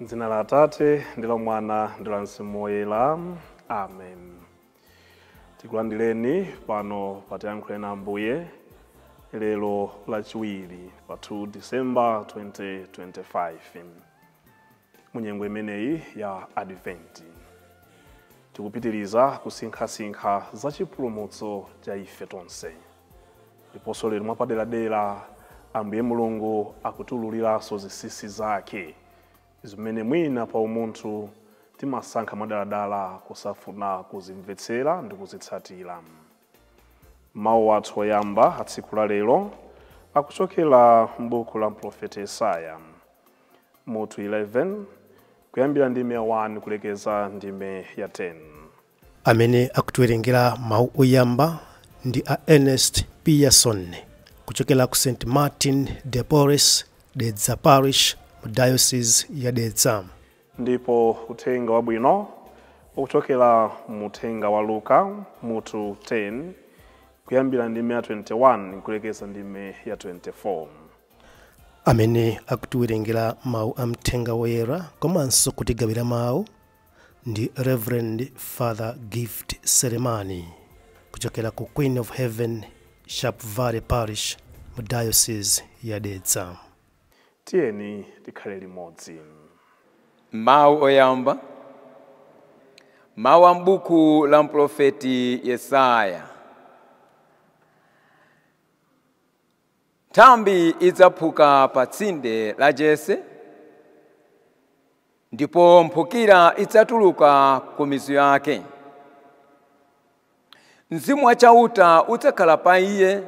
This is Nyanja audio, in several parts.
M'dzina la Atate ndi la Mwana ndi la Mzimu Woyera. Amen. Tikulandireni pano pa Tiyankhule na Ambuye lero lachiwiri pa 2 December 2025. mu nyengo imeneyi ya adventi tikupitiriza kusinkhasinkha za chipulumutso cha ife tonse ndiponso lero mwapaderadera ambuye mulungu akutiululiranso zinsinsi zake zimene mwina pa umunthu timasankha mwadaladala kusafuna kuzimvetsera ndi kuzitsatira mawu athu oyamba a tsiku la lero akuchokera m'buku la mprofeti yesaya mutu 11 kuyambira ndime ya 1 kulekeza ndime ya 10 amene akutiwerengera mawu oyamba ndi a ernest pearson kuchokera ku st martin de porres dedza parish mu diocese ya dedza ndipo uthenga wabwino ukuchokera mu uthenga wa luka mutu 10 kuyambira ndime ya 21 kulekeza ndime ya 24 amene akutiwerengera mawu a mthenga woyera komanso kutigawira mawu ndi reverend father gift selemani kuchokera ku queen of heaven sharpevale parish mu diocese ya dedza tiyeni tikhale limodzi mawu oyamba mawu a m'buku la mprofeti yesaya Nthambi idzaphuka pa tsinde la Jese, ndipo mphukira idzatuluka ku mizu yake. Mzimu wa Chauta udzakhala pa iye,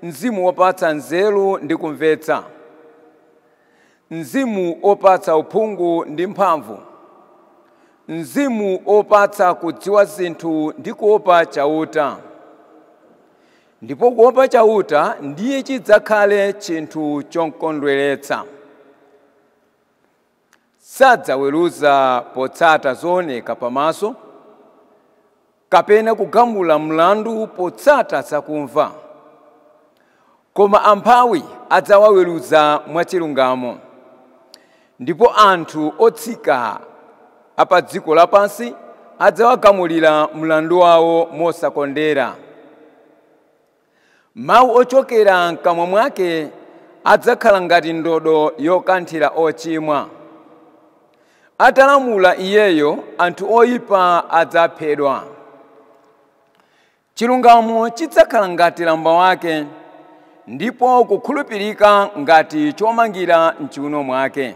mzimu wopatsa nzeru ndi kumvetsa, mzimu wopatsa uphungu ndi mphamvu, mzimu wopatsa kudziwa zinthu ndi kuopa Chauta. Ndipo kuopa Chauta ndiye chidzakhale chinthu chokondweretsa. Sadzaweruza potsata zooneka pamaso, kapena kugamula mlandu potsata zakumva. Koma amphawi adzawaweruza mwachilungamo. Ndipo anthu otsika a pa dziko lapansi adzawagamulira mlandu wawo mosakondera. Mawu ochokera m'kamwa mwake adzakhala ngati ndodo yokanthira ochimwa. Atalamula iyeyo, anthu oipa adzaphedwa. Chilungamo chidzakhala ngati lamba wake, ndipo kukhulupirika ngati chomangira m'chiuno mwake.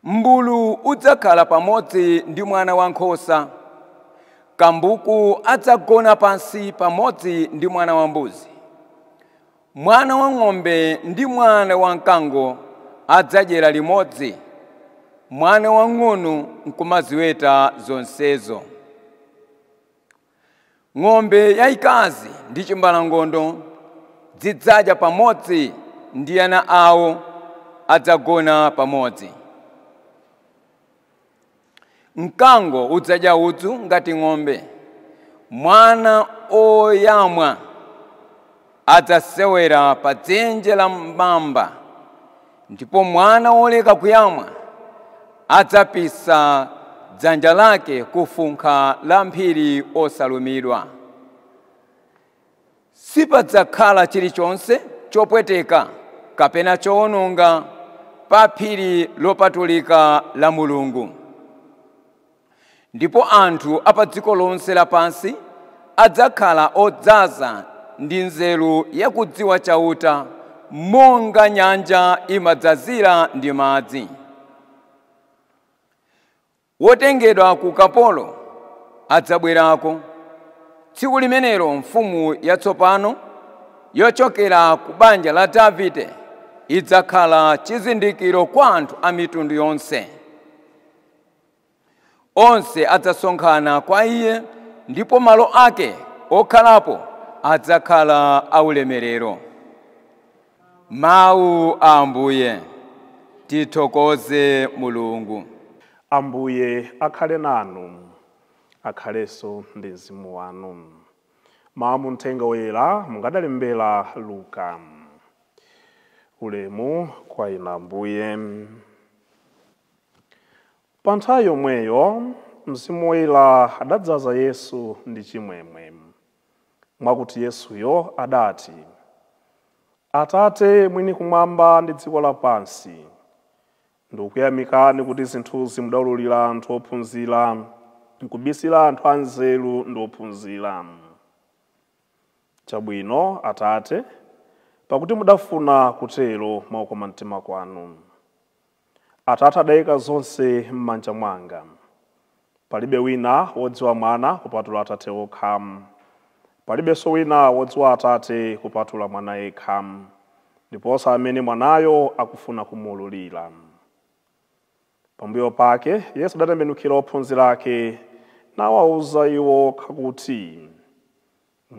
Mmbulu udzakhala pamodzi ndi mwana wankhosa, kambuku adzagona pansi pamodzi ndi mwana wambuzi. Mwana wa ng'ombe ndi mwana wa mkango adzadyera limodzi, mwana wamng'ono nkumaziweta zonsezo. ng'ombe yayikazi ndi chimbalangondo zidzadya pamodzi ndi ana awo adzagona pamodzi mkango udzadya udzu ngati ng'ombe mwana oyamwa Adzasewera pa dzenje la mamba, ndipo mwana woleka kuyamwa adzapisa dzanja lake ku funkha la mphiri osalumidwa. Sipadzakhala chilichonse chopweteka kapena chowononga pa phiri lopatulika la Mulungu. Ndipo anthu a pa dziko lonse lapansi adzakhala odzaza ndi nzeru ya kudziwa Chauta monga nyanja imadzazira ndi madzi. Wotengedwa ku ukapolo adzabwerako. Tsiku limenelo mfumu yatsopano yochokera ku banja la Davide idzakhala chizindikiro kwa anthu a mitundu yonse. Onse adzasonkhana kwa iye ndipo malo ake okhalapo adzakhala aulemerero. Mawu a Ambuye. Tithokoze Mulungu. Ambuye akhale nanu. Akhalenso ndi mzimu wanu. Mawu a mu Mthenga woyera monga adalembera Luka. Ulemu kwa Inu Ambuye. Pa nthawi yomweyo Mzimu Woyera adadzaza Yesu ndi chimwemwe, mwakuti Yesuyo adati, Atate mwini kumwamba ndi dziko lapansi, ndikukuyamikani kuti zinthuzi mudaululira anthu ophunzira, nkubisira anthu anzeru ndi ophunzira. Chabwino, Atate, pakuti mudafuna kutero mwa ukoma mtima kwanu. Atate adaika zonse m'manja mwanga. Palibe wina wodziwa Mwana kupatula Atate okha. Palibenso wina wodziwa Atate kupatula Mwana yekha, ndiponso amene Mwanayo akufuna kumuululira. Pambuyo pake Yesu adatembenukira ophunzira ake nawauza iwo okha kuti.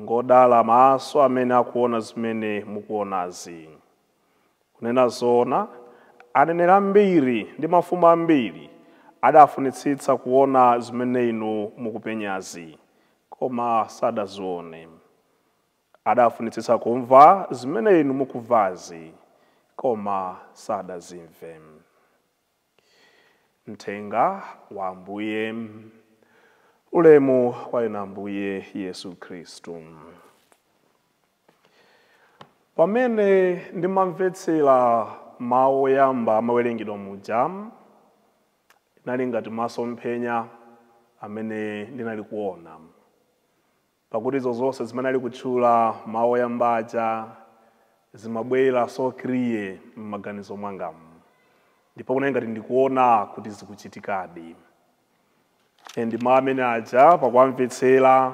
Ngodala maso amene akuona zimene mukuonazi. Kunena zoona, aneneri ambiri ndi mafumu ambiri adafunitsitsa kuona zimene inu mukupenyazi, koma sadazione. Adafunitsitsa kumva zimene inu mukumvazi, koma sadazimve. Mthenga wa Ambuye. Ulemu kwa inu Ambuye Yesu Khristu. Pamene ndimamvetsera mawu oyamba amawerengedwa muja, inali ngati masomphenya amene ndinali kuona. Pakuti izo zonse zimene ali kutchula, mawu oyamba aja, zimabwera so clear mmaganizo mwangamu. Ndipo kunali ngati ndikuwona kuti zikuchitikadi. And mawu amene aja, pakuwamvetsera,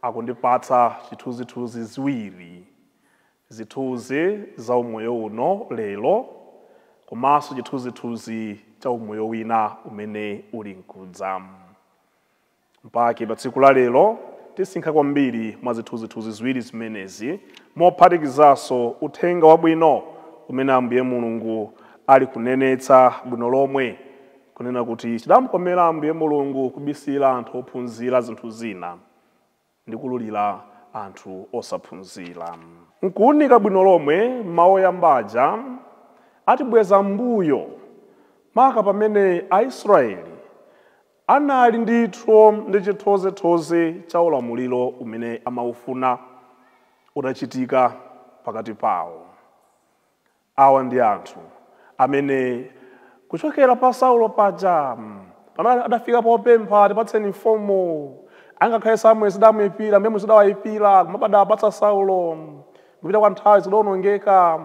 akundipatsa chithunzithunzi ziwiri, zithunzi za umoyo uno lero, komanso chithunzithunzi cha umoyo wina umene uli nkudza. M'pake pa tsiku la lero tisinkha kwambiri mwa zithunzithunzi ziwiri zimenezi, mophatikizanso Uthenga Wabwino umene Ambuye Mulungu ali kunenetsa bwino lomwe, kunena kuti chidamkomera Ambuye Mulungu kubisira anthu ophunzira zinthu zina. ndi kuululira anthu osaphunzira. Nkuunika bwino lomwe mawu oyamba aja, atibweza m'mbuyo maka pamene Aisrayeli anali ndithu ndi chithozethoze cha ulamuliro umene amaufuna utachitika pakati pawo. Awa ndi anthu amene kuchokera pa Saulo paja pamene adafika popempha tipatseni mfumu, angakhale Samueli zidamuipira, Ambuye Mulungu zidawaipira, komabe adawapatsa Saulo. Kupita kwa nthawi zidaonongeka.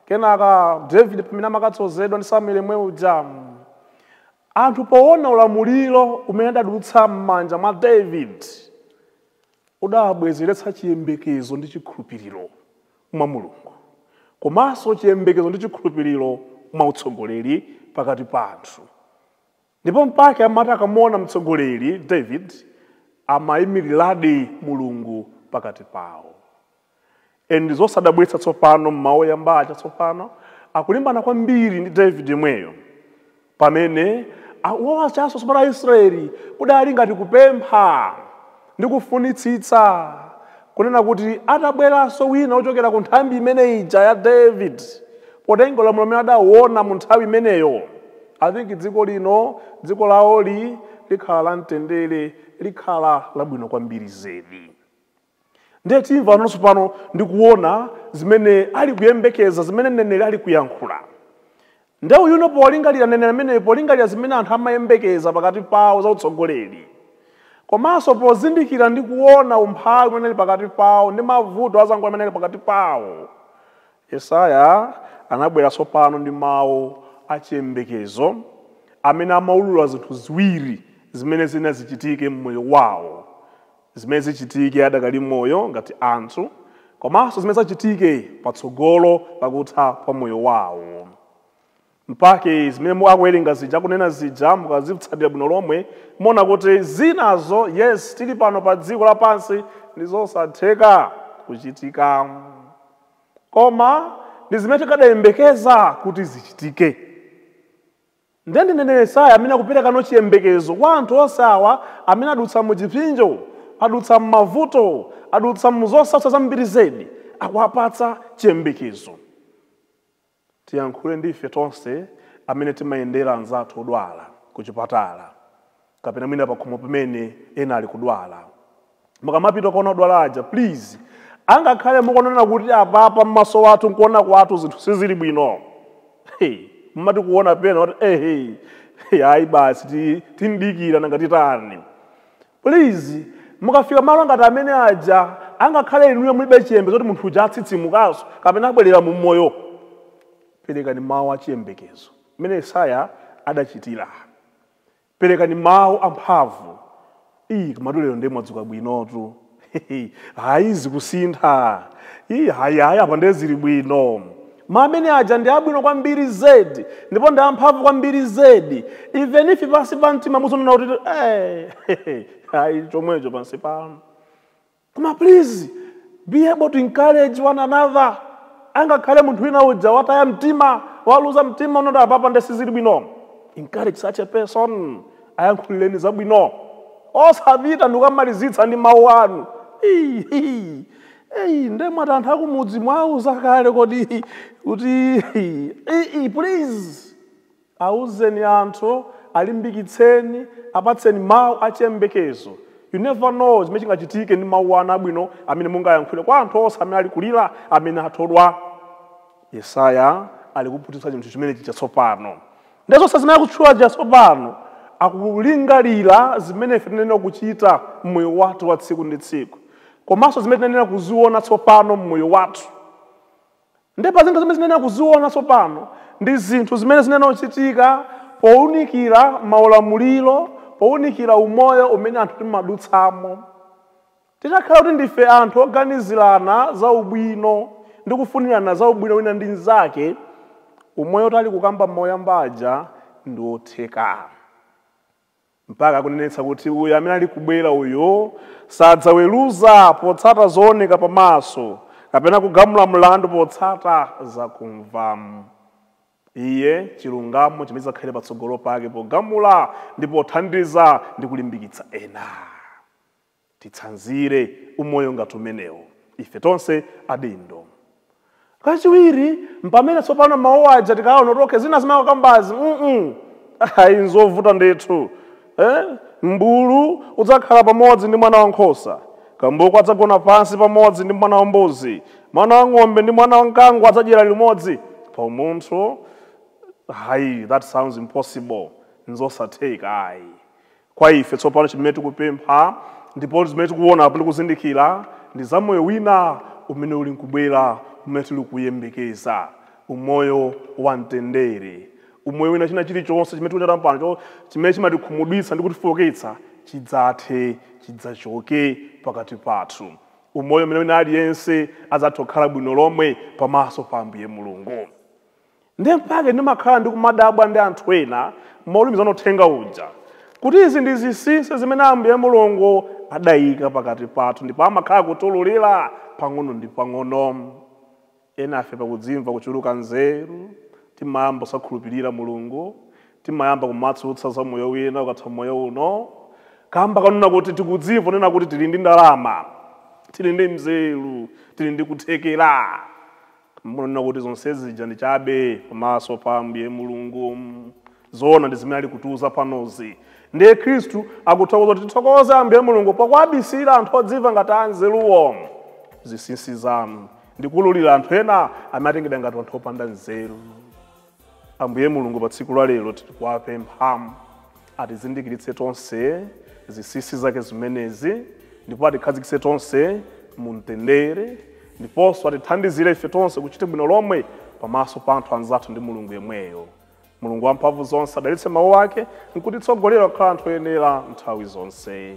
Kenaka David pamene amakadzozedwa ndi Samueli yemwe uja, anthu poona ulamuliro umene adadutsa m'manja mwa David udawabwezeretsa chiyembekezo ndi chikhulupiriro mwa Mulungu komanso chiyembekezo ndi chikhulupiriro mwa utsogoleri pakati pa anthu. Ndipo mpake amati akamuona mtsogoleri David amaimiriradi Mulungu pakati pawo. And ndi zosadabwitsa tsopano m'mawu oyamba aja tsopano akulimbana kwambiri ndi David yemweyo. pamene owatchanso tsopano aisraeli kudali ngati kupempha ndi kufunitsitsa kunena kuti atabweranso wina wochokera ku nthambi imene ija ya david potenga ulamuliro umene adawuona mu nthawi imeneyo i think dziko lino dziko lawoli likhala la mtendere likhala labwino kwambiri zedi ndiye timvano tsopano ndi kuona zimene ali kuyembekeza zimene mneneri ali kuyankhula ndiye uyuno polingalira mneneri ameneyo polingalira zimene anthu amayembekeza pakati pawo za utsogoleri komanso pozindikira ndi kuona umphawi umene ali pakati pawo ndi mavuto azango amene ali pakati pawo yesaya anabwera tsopano ndi mawu achiyembekezo amene amaulula zinthu ziwiri zimene zina zichitike mmoyo wawo zimene zichitike adakali moyo ngati anthu komanso zimene zidzachitike patsogolo pakutha pa moyo wawo mpake zimene akuwerenga zija akunena zija mukazitsatira bwino lomwe muona kuti zinazo yes tili pano pa dziko lapansi ndi zosatheka kuchitika koma ndi zimene tikadayembekeza kuti zichitike Ndiye ndi mneneri Yesaya amene akuperekano chiyembekezo kwa anthu onse awa amene adutsa mu chipsinjo, adutsa m'mavuto, adutsa mu zosautsa zambiri zedi, akuwapatsa chiyembekezo. Tiyankhule ndi ife tonse amene timayendera anzathu odwala kuchipatala, kapena mwina pakhomo pamene ena ali kudwala mukamapita kuona odwala aja please angakhale mukuona kuti apapa mmaso mwathu nkuona kwathu zinthu sizili bwino hey, mmati kuona pena kuti hey, hey, hey, ayi basi ti- tidikira nanga titani please mukafika malo ngati amene aja angakhale inuyo mulibe chiyembekezo zoti munthu uja atsitsimukanso kapena abwerera mu moyo perekani mawu a chiyembekezo mmene yesaya adachitira Perekani mawu amphamvu. Iii komatu lero ndiye mwadzuka bwinotu. Hayi zikusintha. Iii hayi hayi apa ndiye zili bwino. Mawu amene aja ndi abwino kwambiri zedi ndipo ndi amphamvu kwambiri zedi. Even if pansi pa mtima muzinena kuti eh hayi chomwecho pansi panu. Koma please be able to encourage one another. Angakhale munthu wina uja wataya mtima, waluza mtima akuti apapa nde sizili bwino. Encourage such a person. Ayankhulireni zabwino. Osapita ndikukamumalizitsa ndi mawu anu. Hii, hii. Eyi, nde mwati anthu akumudzi mwauza kale kodi kuti hii, hii, please. Auzeni anthu, alimbikitseni, apatseni mau a chiyembekezo. You never know chimene chingachitike ndi mau anu abwino amene mungayankhule kwa anthu onse amene ali kulira, amene athodwa. Yesaya ali kuphunzitsa chinthu chimenecho tsopano. Ndiye zonse zimene akutchula zija tsopano, akulingalira zimene ife tinayenera kuchita m'moyo wathu wa tsiku ndi tsiku, komanso zimene tinayenera kuziona tsopano m'moyo wathu. Ndiye pa zinthu zimene tinayenera kuziona tsopano ndi zinthu zimene zinayenera kuchitika pounikira maulamuliro, pounikira umoyo umene anthu timadutsamo. Titakhala kuti ndife anthu oganizirana za ubwino ndi kufunirana za ubwino wina ndi mnzake, umoyo tali kukamba m'mawu oyamba aja ndi wotheka. mpaka akunenetsa kuti uyo amene ali kubwera uyo sadzaweruza potsata zooneka pamaso kapena kugamula mlandu potsata zakumva iye chilungamo chimene chidzakhale patsogolo pake pogamula ndi pothandiza ndi kulimbikitsa ena titsanzire umoyo ngati umenewo ife tonse adindo. Kachiwiri, mpamene tsopano mawu aja tikaona kuti okay zina zimene akukambazi mm ayi nzovuta ndithu. Eh? Mmbulu udzakhala pamodzi ndi mwana wa nkhosa. Kambuku adzagona pansi pamodzi ndi mwana wa mbuzi. Mwana wa ng'ombe ndi mwana wa mkango adzadyera limodzi pa umunthu. Ayi, that sounds impossible. Nzosatheka ayi. Kwa ife tsopano chimene tikupempha, ndipo zimene tikuona apo tikuzindikira, ndi za moyo wina umene uli nkubwera, umene tili kuyembekeza, umoyo wa mtendere. Umoyo wina, china chirichonse chimene tikuchita pano cho, chimene chimatikhumudwitsa ndi kutifooketsa, chidzathe, chidzachoke pakati pathu. Umoyo umene wina aliyense adzathe kukhala bwino lomwe pamaso pa Ambuye Mulungu. ndiye mpake ndimakhala ndikumadabwa ndi anthu ena maulimizana uthenga uja kuti izi ndi zinsinsi zimene ambuye mulungu adayika pakati pathu ndipo amakhala akutiululira pang'ono ndi pang'ono enafe pakudzimva kuchuluka nzeru timayamba kusakhulupirira mulungu timayamba kumatsutsa za moyo wina ukatha moyo uno kamba konena kuti tikudzimva nena kuti tili ndi ndalama tili ndi nzeru tili ndi kuthekera Munanena kuti zonse zija ndi chabe pamaso pa Ambuye Mulungu. Zoona ndi zimene ali kutiuza panozi. Ndiye Khristu akuthokoza kuti tithokoze Ambuye Mulungu pakuwabisira anthu odziva ngati anzeruwo zinsinsi zanu ndi kuululira anthu ena amene atengedwa ngati anthu opanda nzeru. Ambuye Mulungu, pa tsiku la lero tiri kuwapempha atizindikiritse tonse zinsinsi zake zimenezi, ndipo atikhazikitse tonse mu mtendere, ndiponso atithandizire ife tonse kuchita bwino lomwe pamaso pa anthu anzathu ndi Mulungu yemweyo. Mulungu wamphamvu zonse adalitse mawu ake nkutitsogolera kukhala anthu oyenera nthawi zonse.